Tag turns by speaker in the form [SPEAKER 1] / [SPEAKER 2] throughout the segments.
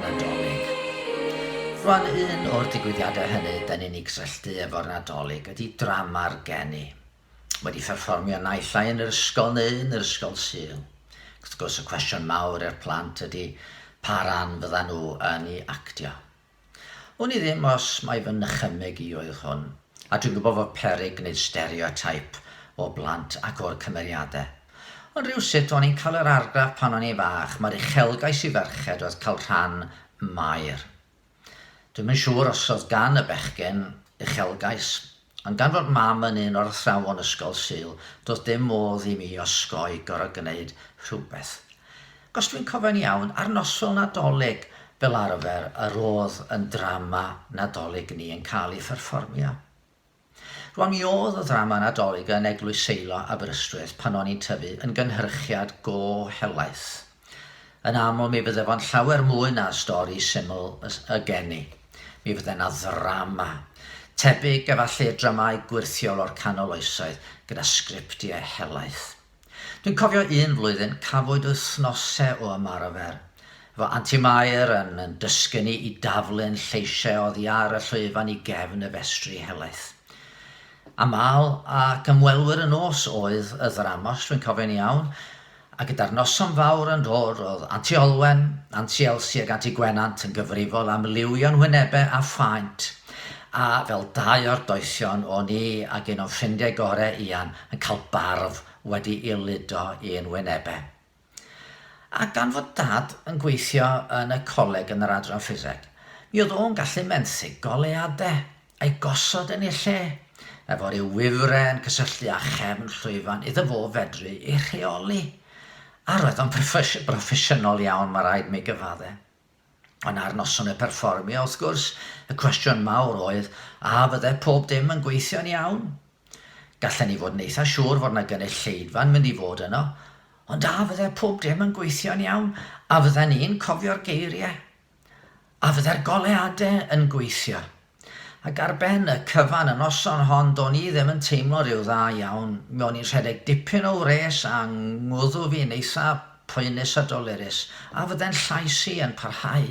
[SPEAKER 1] Nadolig. Rwan un o'r digwyddiadau hynny da ni'n ei gysylltu efo'r Nadolig ydy drama'r geni. Wedi pherfformio naill ai yn yr ysgol neu yn yr ysgol Sul. Ac wrth gwrs y cwestiwn mawr i'r plant ydy pa ran fydda nhw yn ei actio. Wn i ddim os mai fy nychymyg i oedd hwn, a dwi'n gwybod fod peryg gwneud stereotype o blant ac o'r cymeriadau. Ond rywsut o'n i'n cael yr argraff pan o'n i'n fach mai'r uchelgais i ferched oedd cael rhan ym Mair. Dwi'm yn siŵr os oedd gan y bechgyn uchelgais, ond gan fod Mam yn un o'r athrawon Ysgol Sul, doedd dim modd i mi osgoi gorfod gwneud rhywbeth. Ac os dwi'n cofio'n iawn, ar noson Nadolig fel arfer yr oedd yn drama Nadolig ni yn cael ei pherfformio. Rwan mi oedd y ddrama Nadolig yn Eglwys Seilo Aberystwyth pan o'n i'n tyfu yn gynhyrchiad go helaeth. Yn aml mi fydde fo'n llawer mwy na stori syml y geni. Mi fydde 'na ddrama. Tebyg efallai i'r dramâu gwyrthiol o'r canol oesoedd, gyda sgriptiau helaeth. Dwi'n cofio un flwyddyn cafwyd wythnose o ymarfer 'fo Anti Mair yn yn dysgu ni i daflu'n lleisiau oddi ar y llwyfan i gefn y festri helaeth. Aml ac ymwelwyr y nos oedd y ddrama os dwi'n cofio'n iawn, a gyda'r noson fawr yn dod roedd Anti Olwen, Anti Elsi ac Anti Gwenant yn gyfrifol am liwio'n hwynebe a phaent, a fel dau o'r doethion o'n i ag un o'n ffrindiau gore Ian yn cael barf wedi'i ludo i'n wynebe. A gan fod Dad yn gweithio yn y coleg yn yr Adran Ffiseg, mi oedd o'n gallu menthyg goleuadau, a'i gosod yn eu lle, efo rhyw wifren yn cysylltu â chefn llwyfan iddo fo fedru ei rheoli. A roedd o'n broffesiynol iawn, mae rhaid mi gyfaddau. Ond ar noson y perfformio, wrth gwrs, y cwestiwn mawr oedd, a fydde pob dim yn gweithio'n iawn? Gallen ni fod yn eitha siŵr fod na gynulleidfa'n mynd i fod yno, ond a fydde pob dim yn gweithio'n iawn? A fydden ni'n cofio'r geiriau? A fydde'r goleuadau yn gweithio? Ac ar ben y cyfan y noson hon do'n i ddim yn teimlo rhyw dda iawn, mi o'n i'n rhedeg dipyn o wres a ngwddw fi'n eitha poenus a dolerus, a fydde'n llais i yn parhau?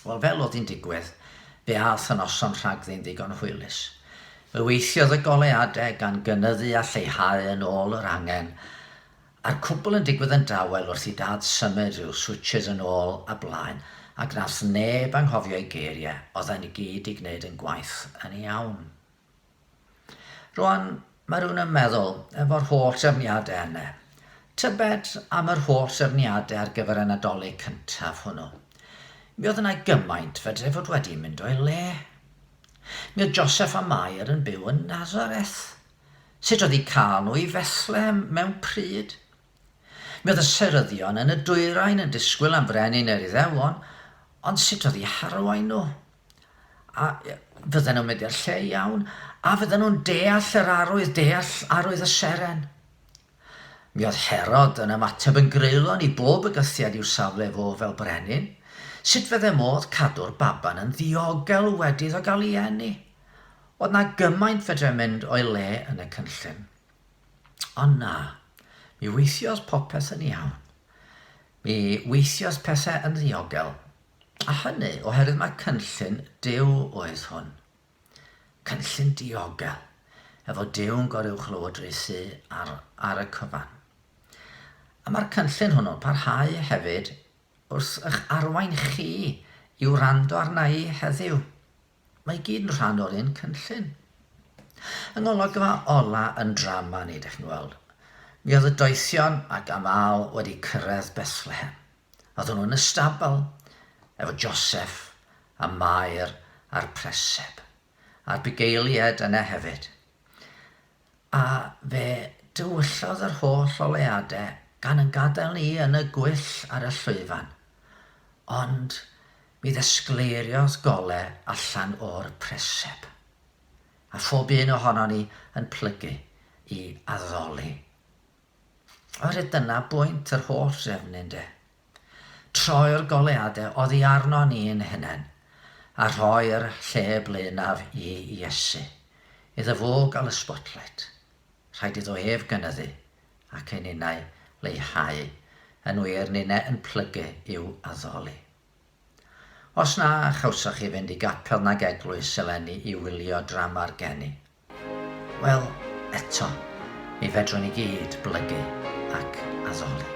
[SPEAKER 1] Wel fel o'dd hi'n digwydd, fe a'th y noson rhagddi'n ddigon hwylus. Fe weithiodd y goleade gan gynyddu a lleihau yn ôl yr angen, A'r cwbl yn digwydd yn dawel wrth i Dad symud ryw switsys yn ôl a blaen, ac nath neb anghofio'i geirie, oddan ni gyd 'di gneud yn gwaith yn iawn. Rwan, ma' rywun yn meddwl, efo'r holl drefniade yne, tybed am yr holl drefniade ar gyfer y Nadolig cyntaf hwnnw? Mi oedd yna gymaint fedrai fod wedi mynd o'i le. Mi oedd Joseph a Mair yn byw yn Nazareth, Sut oedd eu cael nhw i Fethlem mewn pryd? Mi oedd y seryddion yn y dwyrain yn disgwyl am frenin yr Iddewon, ond sut oedd i harwain nhw? A fydden nhw'n mynd i'r lle iawn? A fydden nhw'n deall yr arwydd, deall arwydd y seren? Mi oedd Herod yn ymateb yn greulon i bob bygythiad i'w safle fo fel brenin. Sut fydde modd cadw'r baban yn ddiogel wedi iddo gael ei eni? Oedd 'na gymaint fedrai mynd o'i le yn y cynllun? Ond na, mi weithiodd popeth yn iawn. Mi weithiodd pethau yn ddiogel. A hynny oherwydd mai cynllun Duw oedd hwn. Cynllun diogel, efo Dew'n goruwchlywodrus sy ar ar y cyfan. A mae'r cynllun hwnnw'n parhau hefyd wrth eich arwain chi i wrando arna'i heddiw. Mae i gyd yn rhan o'r un cynllun. Yng ngolygfa ola yn drama ni, dych chi'n gweld, mi oedd y doethion ac amaw wedi cyrraedd Bethlehem. Oedden nhw yn y stabl efo Joseff a Mair a'r preseb, a'r bugeiliaid yna hefyd. A fe dywyllodd yr holl oleuade gan yn gadael ni yn y gwyll ar y llwyfan. Ond mi ddesgleiriodd gole allan o'r preseb. A phob un ohonon ni yn plygu i addoli. Oherwydd dyna bwynt yr holl drefn ynde? Troi'r goleuadau oddi arno ni'n hunain a rhoi'r lle blaenaf i Iesu, iddo fo gael y spotlight. Rhaid iddo ef gynyddu ac i ninnau leihau, yn wir, ninne yn plygu i'w addoli. Os na chawsoch chi fynd i gapel nag eglwys eleni i wylio drama'r geni, Wel, eto, mi fedrwn i gyd blygu ac addoli.